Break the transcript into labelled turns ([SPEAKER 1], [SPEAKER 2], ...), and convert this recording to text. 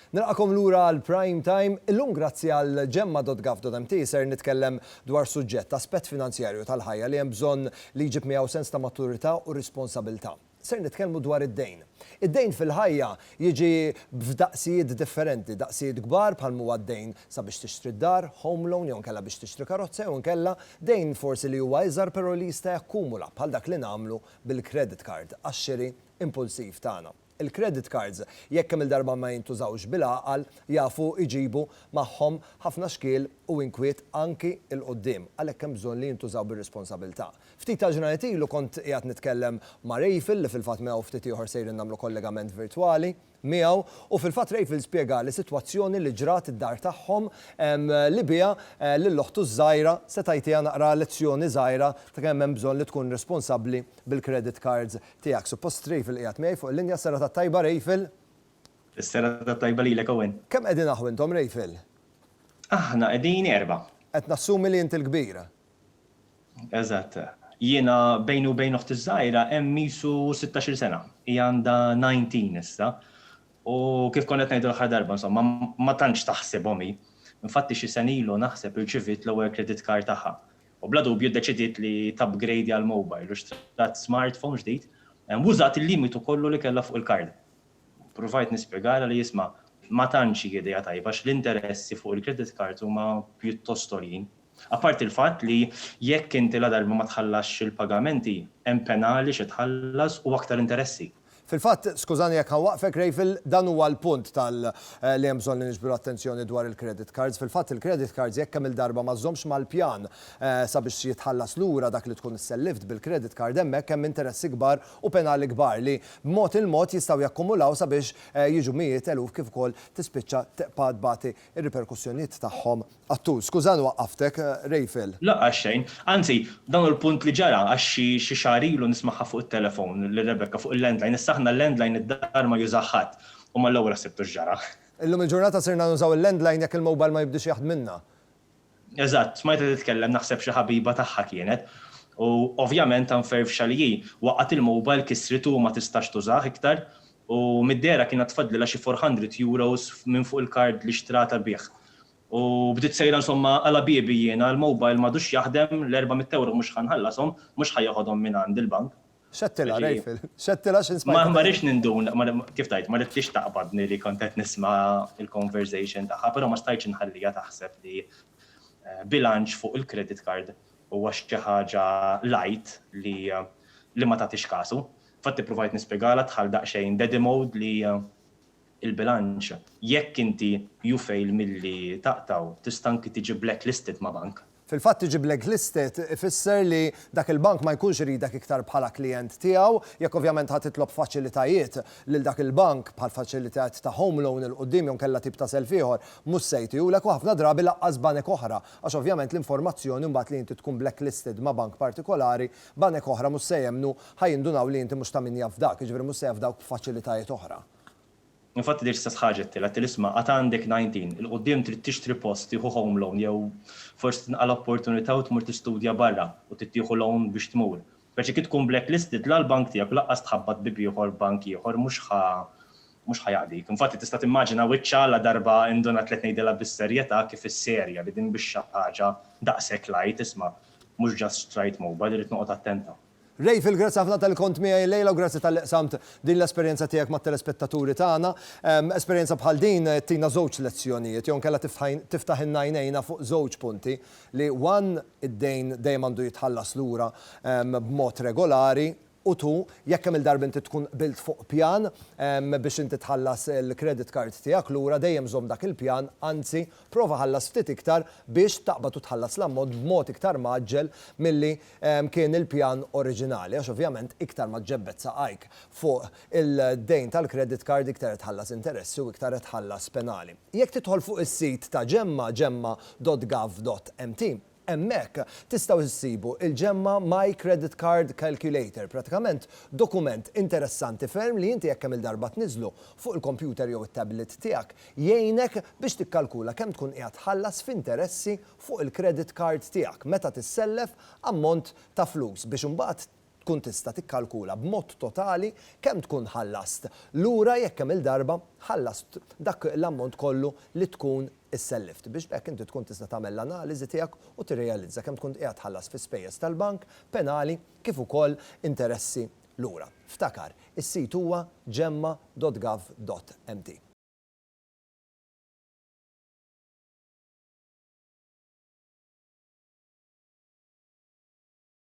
[SPEAKER 1] Nilqakom lura għal Prime Time. Illum grazzi għal gemma.gov.mt ser nitkellem dwar suġġett, aspett finanzjarju tal-ħajja li hemm bżonn li jġib miegħu sens ta' maturità u responsabilità. Ser nitkellmu dwar id-dejn. Id-dejn fil-ħajja jiġi f'daqsijiet differenti, daqsijiet kbar bħal m'huwa d-dejn sabiex tixtri d-dar, home loan, jew inkella biex tixtri karozza jew inkella dejn forsi li huwa iżgħar però li jista' jakkumula bħal dak li nagħmlu bil-credit card għax-xiri impulsiv tagħna. Il-credit cards jekk kemm-il darba ma jintużawx bil-għaqal jafu jġibu magħhom ħafna xkiel u inkwiet anki 'l quddiem għalhekk hemm bżonn li jintużaw bir-responsabilità. Ftit tal-ġranet ilu kont qiegħed nitkellem ma' Rayfil li fil-fatt miegħu ftit ieħor sejrin nagħmlu kollegament virtwali miegħu u fil-fatt Rayfil spjegali sitwazzjoni li ġrat id-dar tagħhom li biha lil oħtu ż-żgħira se tgħitiha naqra lezzjoni żgħira ta' kemm hemm bżonn li tkun responsabbli bil-credit cards tiegħek. Suppost Rayfil qiegħed miegħi fuq il-linja, s-serata t-tajba Rayfil! Is-serata
[SPEAKER 2] t-tajba lilek Owen! Kemm qegħdin aħw intom
[SPEAKER 1] Rayfil? Aħna
[SPEAKER 2] qegħdin erbgħa. Qed nassumi li int
[SPEAKER 1] il-kbir.
[SPEAKER 2] Eżatt. Jiena bejni u bejn oħti ż-żgħira hemm qisu sittax-il sena. Hija għandha nineteen issa. U kif kont qed ngħidu l-aħħar darba, insomma, ma tantx taħsibhom hi. Infatti xi sena ilu naħseb irċiviet l-ewwel credit card tagħha. U bla dubju ddeċidiet li tapgrade għal mobile u xtrat smartphone ġdid u użat il-limitu kollu li kellha fuq il-card. Pruvajt nispjegalha li isma', ma tantx hi idea tajba għax l-interessi fuq il-credit cards huma pjuttost għoljin. Apparti l-fatt li jekk inti ladarba ma tħallasx il-pagamenti, hemm penali xi tħallas u aktar interessi. Fil-fatt, skużani
[SPEAKER 1] jekk ħa nwaqqfek, Rayful, dan huwa l-punt tal li hemm bżonn li niġbdu l-attenzjoni dwar il-credit cards. Fil-fatt, il-credit cards jekk kemm-il darba ma żżommx mal-pjan sabiex jitħallas lura dak li tkun isselliftt bil-credit card hemmhekk hemm interessi kbar u penali kbar li b'mod il-mod jistgħu jakkumulaw sabiex jiġu mijiet eluf kif ukoll tispiċċa tqbad tbati r-riperkussjonijiet tagħhom Attur, Skużani waqqaftek, Rejfel. Le, għaxxejn.
[SPEAKER 2] Anzi, dan hu l-punt li ġara għax xi xi xahar ilu nismagħha fuq it-telefon lil Rebecca fuq il-landline. Issa aħna l-landline id-dar ma jużah ħadd u mal-ewwel ħsibtu x'ġara. Illum il-ġurnata
[SPEAKER 1] sirna nużaw il-landline jekk il-mobile ma jibdiex jaħdmilna. Eżatt,
[SPEAKER 2] smajtha titkellem naħseb xi ħabiba tagħha kienet. U ovvjament ta' mferfxa li hi, waqgħet il-mobile kissritu u ma tistax tużah iktar. U mid-dehra kien għad fadlilha xi four hundred euros minn fuq il-card li xtratha bih. u bdiet sejra insomma għala biebi jiena l-mobile m'għadux jaħdem, l-erba' mitt ewro mhux ħa nħallashom, mhux ħa joħodhom minn għand il-bank. X'għedtilha,
[SPEAKER 1] Raphael? X'għedtilha x'int smajt tgħid? Ma rridx ninduna,
[SPEAKER 2] kif tgħid, ma ridtix taqbadni li kont qed nisma' l-conversation tagħha, però ma stajtx inħalliha taħseb li bilanċ fuq il-credit card huwa xi ħaġa light li ma tagħtix kasu. Infatti ppruvajt nispjegalha dħalt daqsxejn daddy mode li il-bilanċ. Jekk inti you fail milli taqtgħu, tista' anki tiġi blacklisted ma' bank. Fil-fatt tiġi
[SPEAKER 1] blacklisted ifisser li dak il-bank ma jkunx iridek iktar bħala klijent tiegħu. Jekk ovvjament ħa titlob faċilitajiet lil dak il-bank, bħal faċilitajiet ta' home loan 'il quddiem jew inkella tip ta' self ieħor, mhux se jtihulek u ħafna drabi lanqas banek oħra, għax ovvjament l-informazzjoni mbagħad li inti tkun blacklisted ma' bank partikolari, banek oħra mhux se jemmnu, ħa jindunaw li inti mhux ta' min jafdak, jiġifieri mhux se jafdawk b'faċilitajiet oħra. Infatti
[SPEAKER 2] l-istess ħaġa qed tgħidilha, qedtilha isma' għad għandek 19, 'il quddiem trid tixtri post, tieħu home loan jew forsi tinqala' opportunità u tmur tistudja barra u trid tieħu loan biex tmur. Speċi kif tkun blacklisted la l-bank tiegħek u lanqas tħabbat b'bieb ieħor f'bank ieħor mhux ħa mhux ħa jaqdik. Infatti tista' timmaġina wiċċha ladarba indunat li qed ngħidilha bis-serjetà kif isserja li din mhix xi ħaġa daqshekk light, isma' mhux ġast xtrajt mobile irrid noqgħod attenta. Rayfield, grazzi ħafna
[SPEAKER 1] talli kont miegħi llejla u grazzi talli qsamt din l-esperjenza tiegħek mat-telespettaturi tagħna. Esperjenza bħal din ttina żewġ lezzjonijiet jew inkella tiftaħilna għajnejna fuq żewġ punti li one id-dejn dejjem għandu jitħallas lura b'mod regolari u two jekk kemm-il darba inti tkun qbilt fuq pjan biex inti tħallas il-credit card tiegħek lura dejjem żomm dak il-pjan anzi Prova ħallas ftit iktar biex taqbad u tħallas l-ammont b'mod iktar mgħaġġel milli kien il-pjan oriġinali għax ovvjament iktar ma ġġebbed saqajk fuq il-dejn tal-credit card iktar qed tħallas interessi u iktar qed tħallas penali. Jekk tidħol fuq is-sit ta' Gemma, gemma.gov.mt, Hemmhekk tistgħu issibu il-Gemma My Credit Card Calculator, pratikament dokument interessanti ferm li inti jekk kemm-il darba tniżżlu fuq il-kompjuter jew it-tablet tiegħek, jgħinek biex tikkalkula kemm tkun qiegħed tħallas f'interessi fuq il-credit card tiegħek meta tissellef ammont ta' flus biex imbagħad tkun tista' tikkalkula b'mod totali kemm tkun ħallast lura jekk kemm-il darba ħallast dak l-ammont kollu li tkun issellift, biex b'hekk inti tkun tista' tagħmel l-analiżi tiegħek u tirrealizza kemm tkun qiegħed tħallas fi spejjeż tal-bank, penali, kif ukoll interessi lura. Ftakar, is-sit huwa gemma dot gov dot mt.